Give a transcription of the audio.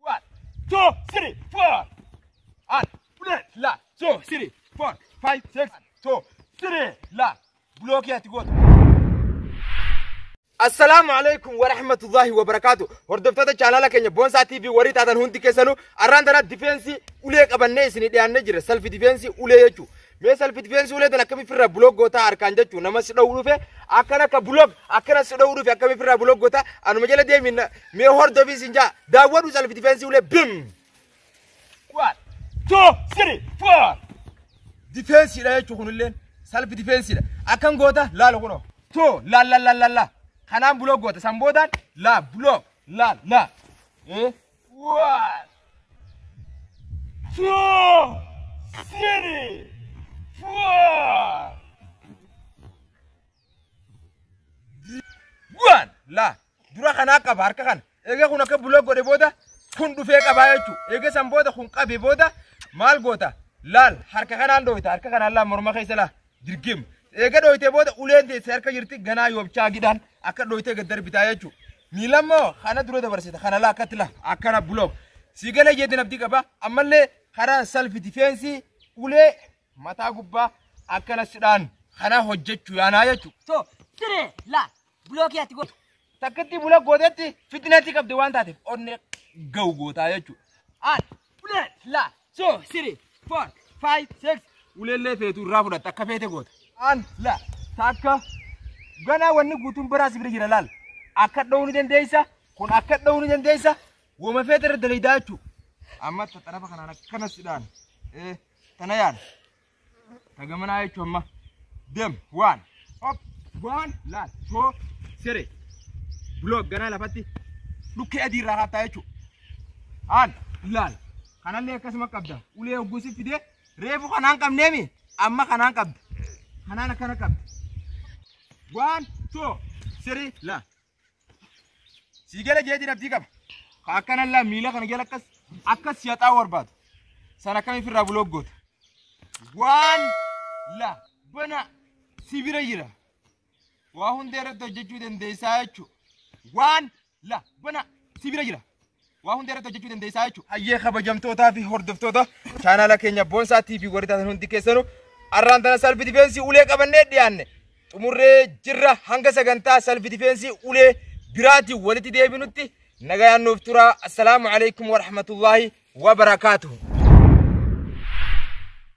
One, two, three, four. At, bullet, la, two, three, four, five, six, two, three, la. Block yet go. Assalaamu alaikum wa rahmatullahi wa barakaatu. Hordoftoota chaanaala keenya Boonsaa TV warri taatan hundi keessanuu arraan tana difeensii ulee qabannee isinii dhiyaannee jira. Salfi difeensii ulee jechuudha. Mee salphit feensii ulee tan akkami firraa bulog gootaa harkaan jechuu nama si dha'u dhufe akkan akka bulog akkana si dha'u dhufe akkami firraa bulog gootaa anuma jala deemi na- mee hordofii sin jaa daawwadhu salphit feensii ulee bim. One, two, three, four. Difeensiidha jechuun kunilleen salphi difeensiidha. Akkan goota laala kunoo. Too laal laal laal laal laal. Kanaan buloo goota san boodaan laa buloo laal laa. Eh? Bu'aan laa dura kanaa qaba harka kana egaa kun akka buloo godhe booda kun dhufee qabaa jechuudha egaa san booda kun qabe booda maal goota laal harka kanaan dhooyta harka kanaan laa morma keessa laa Dirgim. Eega dhooytee booda uleen teesse harka jirti ganaa yoobchaa gidhaan akka dhooytee gad darbitaa jechuudha. Miilammoo kana dura dabarsita kana laa akkatti laa akkana bulook. Sii galee jeetiin abdii qaba ammallee karaa salfi difeensii ulee mataa gubbaa akkana sidhaan kana hojjechuu yaanaa jechuudha. To tire la bloki ati go. Takkatti bula gootetti fitinaatti qabde waan taateef onnee ga'u gootaa jechuudha. Aan Ulee laa soo siri foor faayi seeks uleellee feetu irraa fudhatta akka feete goota. Aan laa takka ganaa wanni guutuun biraas bira jira laal akka dha'uu ni dandeessa kun akka dha'uu ni dandeessa wama feete irra daleeydaa jechuudha. Amma xarafa kanaan akkana sidhaan tana yaala. Tagamanaa jechuun amma dem waan op waan laal too siree block ganaa lafatti dhukkee adii irraa kaattaa jechuudha. Haal laal kanallee akkasuma qabda ulee ogguusi fidee reefu kanaan qabneemi amma kanaan qabda kanaan akkana qabda waan too siree laal. Sii gala jee jirattii qaba. Ka akkana illaa miila kana jala akkas akkas yaxaa barbaadu. San akkami firraa bulook goota. Waan la bana si bira jira. Waa hunda irratti hojjechuu dandeessaa jechuudha. Waan la bana si bira jira. waa hunda irratti hojjechuu dandeessaa jechuudha. Hayyee kabajamtootaa fi hordoftoota chaanaala keenya Boonsaa TV warri taatan hundi keessanuu arraan tana salfi difeensii ulee qabannee dhiyaanne xumurree jirra hanga sagantaa salfi difeensii ulee biraatiin walitti deebinutti nagayaan nuuf turaa assalaamu alaikum warahmatullaahi wabarakaatuhu.